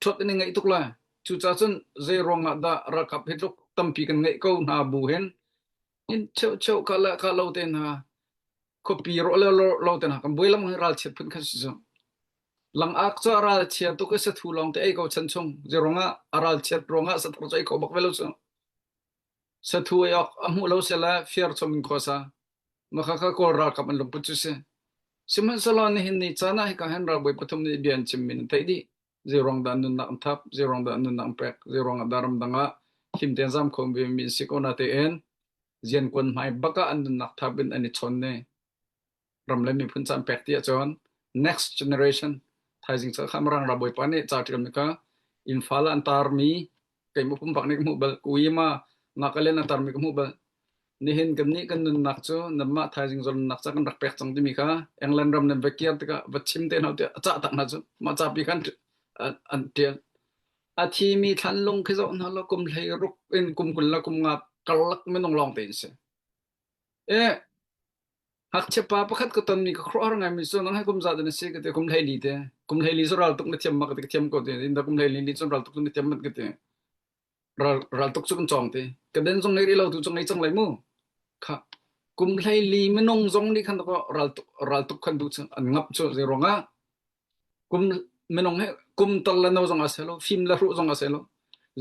Ṭhat an i ngaih tuk lai. Cucaah cun zeiruangah dah ralkap hi tluk tampi kan ngeih ko hna bu hin hin cheucheu ka le ka lo te hna khuapi rawh le lo, lo te hna kan buai lamang hi ralchiat phun kha si cu. Langak cu a ralchia tuk i sathu lawng te ei ko chan chung. Zeiruangah a ralchiat ruangah sathar cu ei ko bak ve lo cu. Sathu ei awk a hmuh lo sehla firchom in khuasa. Makhakha kawl ralkap an lungput cu si. Sihmanhsehlaw nihin ni caan ah hika hen ralbawi pathum nih bia an chim min an theih dih. Zeirong dah nunnak an thap, zeirong dah nunnak an pek, zeirong ah dah ramdang ah himten zam khom ve mi an si ko na tein, zian kuan hmai bak ah an nunnak thap in an i chon ne. ram le miphun can pek ti ahcun next generation thaizing chal kham rang rabawi pa nih catiram ka infala an tarmi keimah pum bak nih mu bal kuima nak alen an tarmi mu bal nihin kan ni kan nun nak cu namma thaizing zol nak cha kan rak pek chang timi kha england ram nan vekiar tika va chim te no ti cha tak na chu ma cha pi khan an tian a thi mi thlan lung khi zo na lo kum hlei ruk in kum kun la kum nga kalak minung long te se e Hngakchia pa pakhat ka tonmi ka khuaruahhar ngaimi cu nang hai kum za na si ka te kum hlei li te kum hlei li cu ral tuk na thiam ma ka te ka thiam ko te in da kum hlei li ni cun ral tuk na thiam mat ka te ral ral tuk cu kan chong te ka den zong nei rih lo tu chung nei chang lai mu kha kum hlei li minung zong nih khan ko ral tuk ral tuk khan tu an ngap chu zei ruangah kum minung hi kum tor le no zong ah si lo fim le hruh zong ah si lo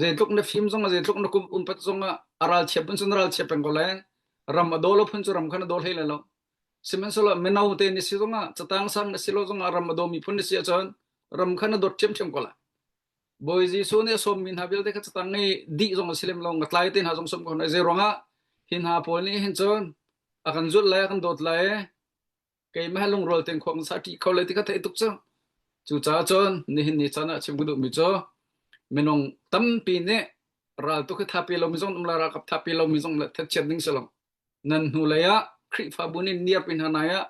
zeitluk na fim zong ah zeitluk na kum umpat zong ah a ral chiap pun cun ral chiap peng ko le ram a daw lo phun cu ram khan a daw hlei le lo sihmanhsehlaw mino te ni si zong ah catang sang na si lo zong ah ram a daw mi phun ni si ahcun ram khan a dawt ṭhiamṭhiam ko la bawi jesuh nih a sawm mi hna vialte kha catang i dih zong a si lem lo nga tlai te hna zong sawm ko hna zei ruangah hi hna pawl nih hin cun a kan zulh le a kan dawt le keimah he lungrual ten khuang sa ṭi kho le ti ka theih tuk cu cucaah cun nihin ni caan ah chim ka duhmi cu minung tampi nih ral tu khi thapi lomi zong um le ralkap thapi lomi zong le thatchiat ding si lo nan hnu lei ah Khrihfabu nih niarpi hna nai ah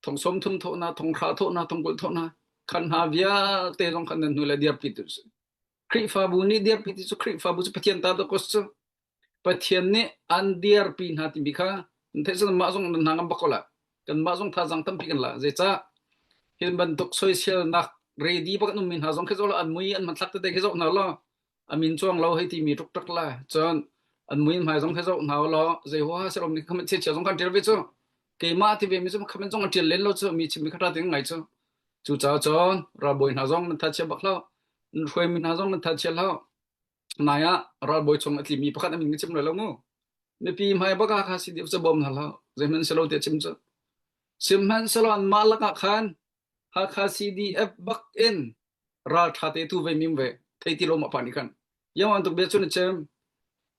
thong som thum thawh na thong hra thawh na thong kul thawh na khan hna vialte zong khan nan hnu lei diarpi tu si Khrihfabu nih dirpi ti cu Khrihfabu cu Pathian ta dawk a si. Pathian nih an dirpi hna timi kha an theih cun mah zong nan hna ngam bak ko la. Kanmah zong thazang tampi kan la. Zeicah? Hin bantuk soisialnak ready bak an ummi hna zong khi zo an mui an hmanthlak tete khi zo hna law amin chuang lo hei timi tuk tuk la cun an mui hmai zong khi zo hna law zei huha si lomi khamen chiachia zong kan ṭial ve cu keimah ti ve mi cu khamen zong an ṭial len lo cu mi chim mi kha ṭha te ngai cu Cucaah cun ralbawi hna zong nan thatchia bak hlah. Nan hruaimi hna zong nan thatchia hlah. Nai ah ralbawi chung a tlimi pakhat an min ka chim lai lo mu. Mipi hmai bak ah kha si deu ca bawm hna hlah. Zeihman selo tiah chim cu. Sihmanhsehlaw an mah lakah khan Hakha CDF bak in raltha te tu ve mim ve thei ti lo ma pa ni kan. Yang wan tuk bia cu na chem.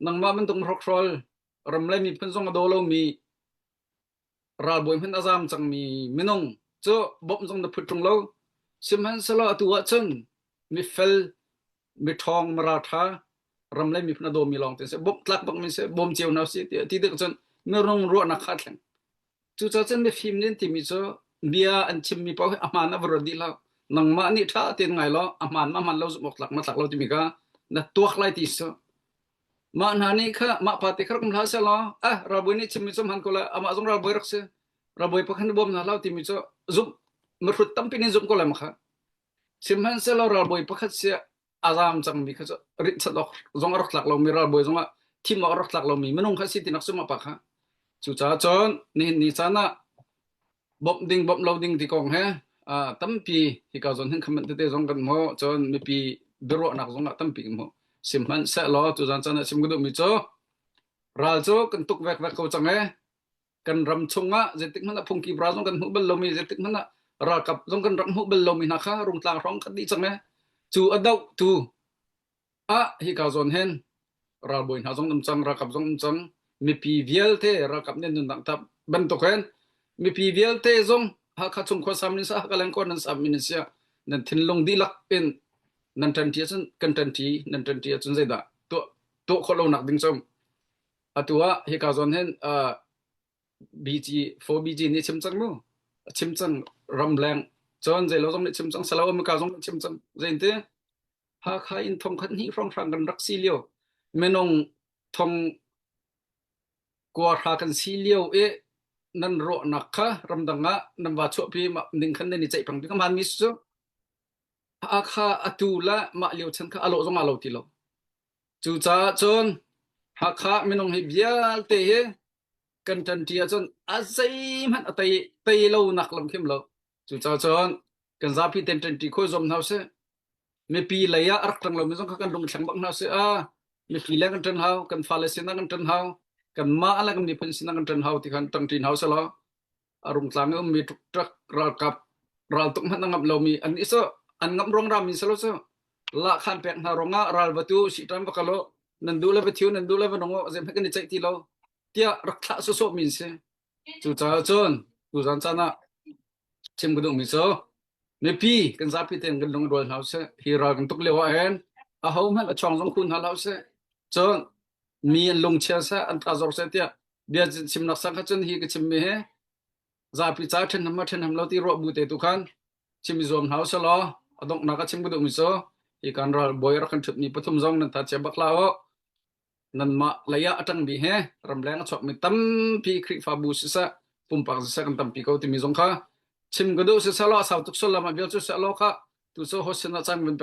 Nangmah men tung rokhrol ram le mi phun zong a do lo mi ralbawi hmanh a zam cangmi minung cu bawmh zong na phut ṭung lo sihmanhsehlaw atu ah cun mifel miṭhawng maralṭha ram le miphun a dawmi lawng te seh bawmh tlak bangmi seh bawm cio hna usih tiah ti dik cun na rung ruahnak kha a thleng cucaah cun mifim nin timi cu bia an chimmi paoh hi a hmaan a va ruat dih lo nangmah nih ṭha tein ngai law a hmaan ma hmaan lo zumh awk tlak ma tlak lo timi kha na tuak lai ti cu Mah hna nih kha mah pa te kha rak um hlah selaw ah ralbawi nih chim mi cu hman ko la amah zong ralbawi rak si ralbawi pakhat nih bawm hna hlah timi cu zumh mahrut tampi nin zumh ko lai makha sihmanhsehlaw ralbawi pakhat sia a zaam cang mi kha cu richat awk zong a rak tlak lomi ralbawi zong ah thim awk a rak tlak lomi minung kha si tinak sungah pa kha cucaah cun nihin ni caan ah bawmh ding bawmh lo ding ti kong he tampi hika zon hin khaman tete zong kan hmu cun mipi biaruahnak zong ah tampi kan hmu sim hman se law cu zan chan ah sim ka duhmi cu ral cu kan tuk vek vek ko cang e kan ram chungah zetik hmanh ah phungki bra zong kan hmu bal lomi zetik hmanh ah ralkap zong kan ram hmu bal lomi hna kha rungtlang hrawng kan di cang e cu a doh tu Ah hika zawn hen ralbawi hna zong nam cang, ralkap zong nam cang, mipi vialte ralkap nih nun dang tap bantuk hen mipi vialte zong Hakha chung khuasam nin sa Hakha lengkor nan sam min sia nan thinlung dihlak in nan ṭanṭi ahcun kan ṭanṭi nan ṭanṭi ahcun zeidah tuah tuah khawh lo nak ding cum atu ah hika zawn hen uh, BG 4 BG nih chim cang mu chim cang ramleng cun zei lo zong nih chim cang salo amika zong nih chim cang zeinte Hakha in thongkhat hnih hrawnghrang kan rak si lio, minung thong kuahra kan si lio i nan rawhnak kha ramdang ah nan va chuahpi ning khan nan i ceih pang ding man mi cu Hakha atu la mah lio chan kha alo zong alo ti lo cu caah cun Hakha minung hi vialte hi kan tan tia cun a zei hmanh a tei tei lo nak lam kim lo Cucacun kan zapi ten ṭenṭi khawi zuam hna sih. Mipi lei ah a rak ṭang lomi zong kha kan lung thleng bak hna sih. Ah, mihri leng kan ṭan hau, kan fale sinah kan ṭan hau, kan mah le kan miphun sinah kan ṭan hau ti khan ṭang ṭin hau selaw a rungtlang i ummi ṭukṭak ralkap raltuk hmanh a ngap lomi an i so an ngam ruang rami selaw cu lahkhan pek hna ruangah ral va tu si ṭan va kal u nan duh le va thiu nan duh le va nung u a zeihmanh kan i ceih ti lo tiah rak thlah sawsawh min si. Cucaah cun tuzan caan ah chim ka duhmi cu mipi kan zapi tein kan lungrual hna usih. Hi ral kan tuk lio ah hin ahohmanh a chuang zong khun hna hlah usih. Cun mi an lungchia seh, an tazawr seh tiah bia chimnak sang kha cun hi ka chimmi hi zapi ca ṭhenham ma ṭhenham lo ti ruah bu te tu khan chim i zuam hna usih law a donghnak a chim ka duhmi cu hi kan ral bawi rak kan ṭhutmi pathum zong nan tha chia bak hlah u. Nanmah lei ah a ṭangmi he ramleng a chuakmi tampi Khrihfabu siseh, pumpak siseh kan tampi ko timi zong kha chim ka duh. Siselaw a sau tuk sullam ah bia cu seh law kha tu cu hostin ah caan kan